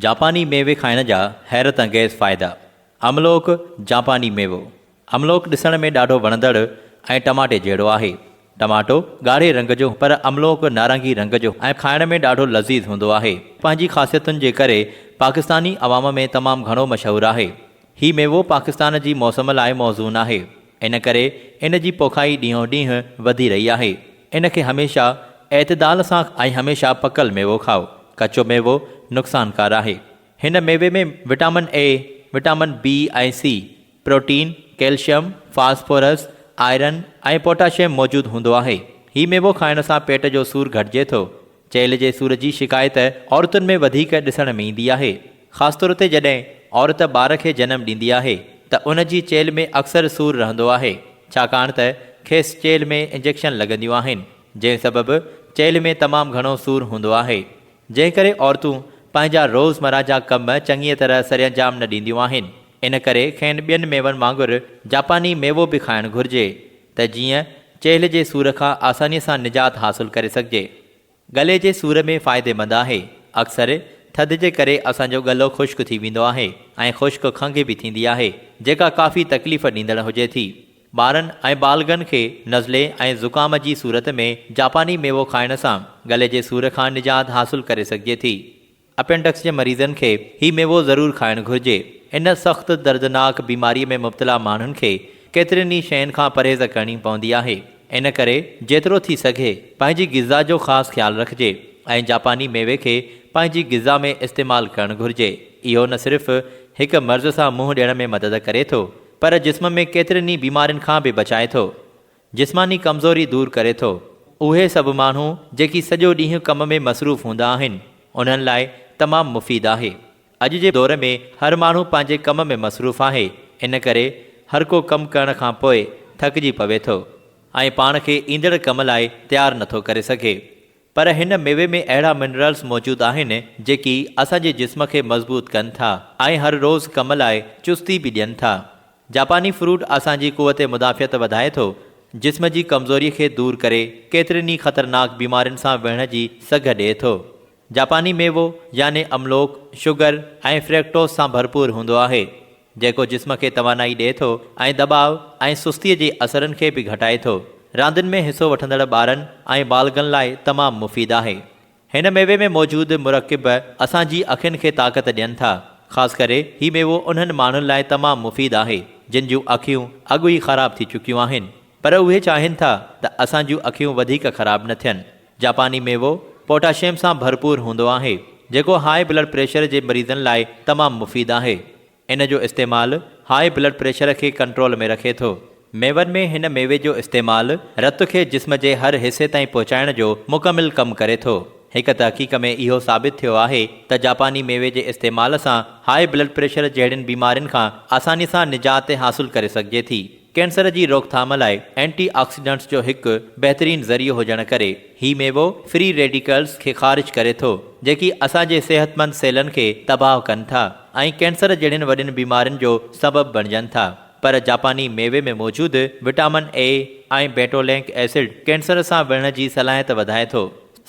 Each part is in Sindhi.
جاپاني ميوي کائڻ جا حيرت انگيز فائدا املوڪ، جاپاني ميوو املوڪ ڏسڻ ۾ ڏاڍو وڻندڙ ۽ ٽماٽي جهڙو آهي. ٽماٽو ڳاڙهي رنگ جو پر املوڪ نارنگي رنگ جو ۽ کائڻ ۾ ڏاڍو لذيذ هوندو آهي. پنهنجي خاصيتن جي ڪري پاڪستاني عوام ۾ تمام گهڻو مشهور آهي. هي ميوو پاڪستان جي موسم لاء موزون آهي. ان ڪري ان جي پوکائي ڏينهون ڏينهن وڌي رهي آهي. ان کي هميشه اعتدال سان ۽ هميشه پڪل ميوو کائو. ڪچو ميوو نقصانڪار آهي. هن ميوي ۾ vitamin A, vitamin B ۽ C, protein, calcium, phosphorus, iron ۽ potassium موجود هوندو آهي. هي ميوو کائڻ سان پيٽ جو سور گهٽجي ٿو. چيلهه جي سور جي شڪايت عورتن ۾ وڌيڪ ڏسڻ ۾ ايندي آهي. خاص طور تي جڏهن عورت ٻار کي جنم ڏيندي آهي ته ان جي چيلهه ۾ اڪثر سور رهندو آهي ڇاڪاڻ ته کيس چيلهه ۾ انجيڪشن لڳنديون آهن جنهن سبب چيلهه ۾ تمام گهڻو سور هوندو آهي جنهن ڪري عورتون پنهنجا روزمره جا ڪم چڱيء طرح سرانجام نه ڏينديون آهن ان ڪري کين ٻين ميون وانگر جاپاني ميوو به کائڻ گهرجي. ته جيئن چيلهه جي سور کان آسانيء سان نجات حاصل ڪري سگهجي. ڳلي جي سور ۾ فائديمند آهي. اڪثر ٿڌ جي ڪري اسان جو ڳلو خشڪ ٿي ويندو آهي ۽ خشڪ کنگهي به ٿيندي آهي، جيڪا ڪافي تڪليف ڏيندڙ هجي ٿي. ٻارن ۽ بالغن کي نزلي ۽ زڪام جي صورت ۾ جاپاني ميوو کائڻ سان ڳلي جي سور کان نجات حاصل ڪري سگهجي ٿي. اپينڊڪس جي مريضن کي هي ميوو ضرور کائڻ گهرجي. ان سخت دردناڪ بيماري ۾ مبتلا ماڻهن کي ڪيترين ئي شين کان پرهيز ڪرڻي پوندي آهي. ان ڪري جيترو ٿي سگهي پنهنجي غذا جو خاص خيال رکجي ۽ جاپاني ميوي کي پنهنجي غذا ۾ استعمال ڪرڻ گهرجي. اهو نه صرف هڪ مرض سان منهن ڏيڻ ۾ مدد ڪري ٿو پر جسم ۾ ڪيترين ئي بيمارين کان به بچائي ٿو. جسماني ڪمزوري دور ڪري ٿو. اهي سڀ ماڻهو جيڪي سڄو ڏينهن ڪم ۾ مصروف هوندا آهن انهن لاء تمام مفيد آهي. اڄ جي دور ۾ هر ماڻهو پنهنجي ڪم ۾ مصروف آهي ان ڪري هر ڪو ڪم ڪرڻ کان پوء ٿڪجي پوي ٿو ۽ پاڻ کي ايندڙ ڪم لاء تيار نٿو ڪري سگهي پر هن ميوي ۾ اهڙا منرلز موجود آهن جيڪي اسان جي جسم کي مضبوط ڪن ٿا ۽ هر روز ڪم لاء چستي به ڏين ٿا. جاپاني فروٽ اسان جي قوت مدافعت وڌائي ٿو، جسم جي ڪمزوري کي دور ڪري ڪيترين ئي خطرناڪ بيمارين سان وڙهڻ جي سگهه ڏئي ٿو. جاپاني ميوو يعني املوڪ شگر ۽ فريڪٽوز سان ڀرپور هوندو آهي، جيڪو جسم کي توانائي ڏئي ٿو ۽ دٻاء ۽ سستي جي اثرن کي به گهٽائي ٿو. راندين ۾ حصو وٺندڙ ٻارن ۽ بالغن لاء تمام مفيد آهي. هن ميوي ۾ موجود مرڪب اسان جي اکين کي طاقت ڏين ٿا. خاص ڪري هي ميوو انهن ماڻهن لاء تمام مفيد آهي جن جون اکيون اڳ ئي خراب ٿي چڪيون آهن پر اهي چاهين ٿا ته اسان جون اکيون وڌيڪ خراب نه ٿين. جاپاني ميوو پوٽاشيم سان ڀرپور هوندو آهي جيڪو هاء بلڊ پريشر جي مريضن لاء تمام مفيد آهي. ان جو استعمال هاء بلڊ پريشر کي ڪنٽرول ۾ رکي ٿو. ميون ۾ هن ميوي جو استعمال رت کي جسم جي هر حصي تائين پهچائڻ جو مڪمل ڪم ڪري ٿو. هڪ تحقيق ۾ اهو ثابت ٿيو آهي ته جاپاني ميوي جي استعمال سان هاء بلڊ پريشر جهڙين بيمارين کان آساني سان نجات حاصل ڪري سگهجي ٿي. ڪينسر جي روڪٿام لاء اينٽي آڪسيڊنٽس جو هڪ بهترين ذريعو هجڻ ڪري، هي ميوو فري ريڊيڪلز کي خارج ڪري ٿو، جيڪي اسان جي صحتمند سيلن کي تباهه ڪن ٿا ۽ ڪينسر جهڙين وڏين بيمارين جو سبب بڻجن ٿا. پر جاپاني ميوي ۾ موجود vitamin A ۽ betulinic acid cancer سان وڙهڻ جي صلاحيت وڌائي ٿو.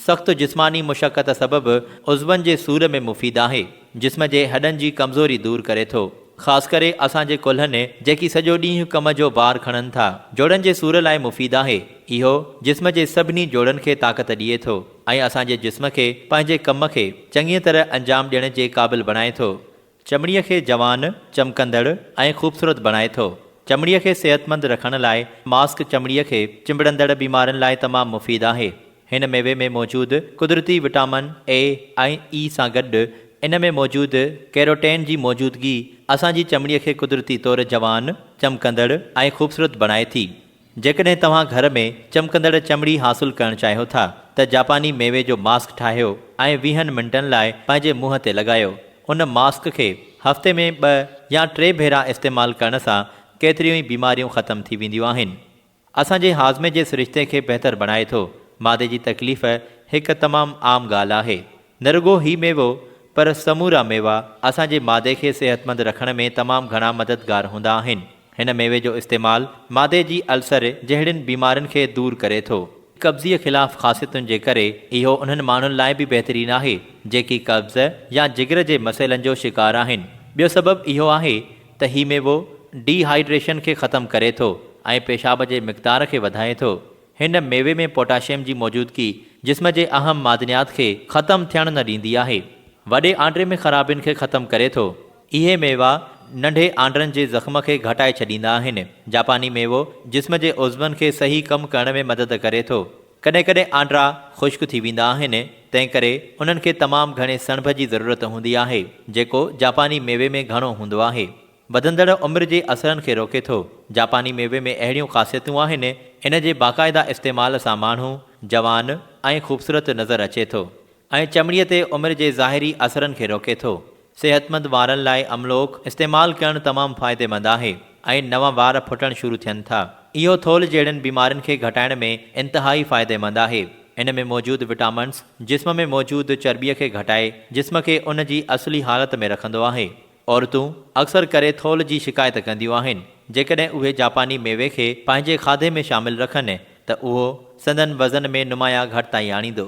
سخت جسماني مشقت سبب عضون جي سور ۾ مفيد آهي. جسم جي هڏن جي ڪمزوري دور ڪري ٿو. خاص ڪري اسان جي ڪلهن جيڪي سڄو ڏينهن ڪم جو بار کڻن ٿا. جوڙن جي سور لاء مفيد آهي. اهو جسم جي سڀني جوڙن کي طاقت ڏئي ٿو ۽ اسان جي جسم کي پنهنجي ڪم کي چڱيء طرح انجام ڏيڻ جي قابل بڻائي ٿو. چمڙي کي جوان، چمڪندڙ ۽ خوبصورت بڻائي ٿو. چمڙي کي صحتمند رکڻ لاء ماسڪ چمڙي کي چنبڙندڙ بيمارين لاء تمام مفيد آهي. هن ميوي ۾ موجود قدرتي وٽامن اي ۽ اي سان گڏ ان ۾ موجود ڪيروٽين جي موجودگي اسان جي چمڙي کي قدرتي طور جوان، چمڪندڙ ۽ خوبصورت بڻائي ٿي. جيڪڏهن توهان گهر ۾ چمڪندڙ چمڙي حاصل ڪرڻ چاهيو ٿا ته جاپاني ميوي جو ماسڪ ٺاهيو ۽ ويهن منٽن لاء پنهنجي منهن تي لڳايو. ان ماسڪ کي هفتي ۾ ٻه يا ٽي ڀيرا استعمال ڪرڻ سان ڪيتريون ئي بيماريون ختم ٿي وينديون آهن. اسان جي هاضمي جي سرشتي کي بهتر بڻائي ٿو. معدي جي تڪليف هڪ تمام عام ڳالهه آهي. نه رڳو هي ميوو پر سمورا ميوا اسان جي معدي کي صحتمند رکڻ ۾ تمام گهڻا مددگار هوندا آهن. هن ميوي جو استعمال معدي جي السر جهڙين بيمارين کي دور ڪري ٿو. قبضي خلاف خاصيتن جي ڪري اهو انهن ماڻهن لاء به بهترين آهي جيڪي قبض يا جگر جي مسئلن جو شڪار آهن. ٻيو سبب اهو آهي ته هي ميوو ڊي هائيڊريشن کي ختم ڪري ٿو ۽ پيشاب جي مقدار کي وڌائي ٿو. هن ميوي ۾ پوٽاشيم جي موجودگي جسم جي اهم معدنيات کي ختم ٿيڻ نه ڏيندي آهي. وڏي آنڊي ۾ خرابين کي ختم ڪري ٿو. اهي ميوا ننڍي آنڊن جي زخم کي گهٽائي ڇڏيندا آهن. جاپاني ميوو جسم جي عضون کي صحيح ڪم ڪرڻ ۾ مدد ڪري ٿو. ڪڏهن ڪڏهن آنڊا خشڪ ٿي ويندا آهن، تنهنڪري انهن کي تمام گهڻي سڻڀ جي ضرورت هوندي آهي، جيڪو جاپاني ميوي ۾ گهڻو هوندو آهي. وڌندڙ عمر جي اثرن کي روڪي ٿو. جاپاني ميوي ۾ اهڙيون خاصيتون آهن، ان جي باقاعده استعمال سان ماڻهو جوان ۽ خوبصورت نظر اچي ٿو ۽ چمڙي تي عمر جي ظاهري اثرن کي روڪي ٿو. صحتمند وارن لاء املوڪ استعمال ڪرڻ تمام فائديمند آهي ۽ نوان وار ڦٽڻ شروع ٿين ٿا. اهو ٿولهه جهڙين بيمارين کي گهٽائڻ ۾ انتهائي فائديمند آهي. ان ۾ موجود وٽامنز جسم ۾ موجود چرٻي کي گهٽائي جسم کي ان جي اصلي حالت ۾ رکندو آهي. عورتون اڪثر ڪري ٿولهه جي شڪايت ڪنديون آهن. جيڪڏهن اهي جاپاني ميوي کي پنهنجي کاڌي ۾ شامل رکن ته اهو سندن وزن ۾ نمايان گهٽتائي آڻيندو.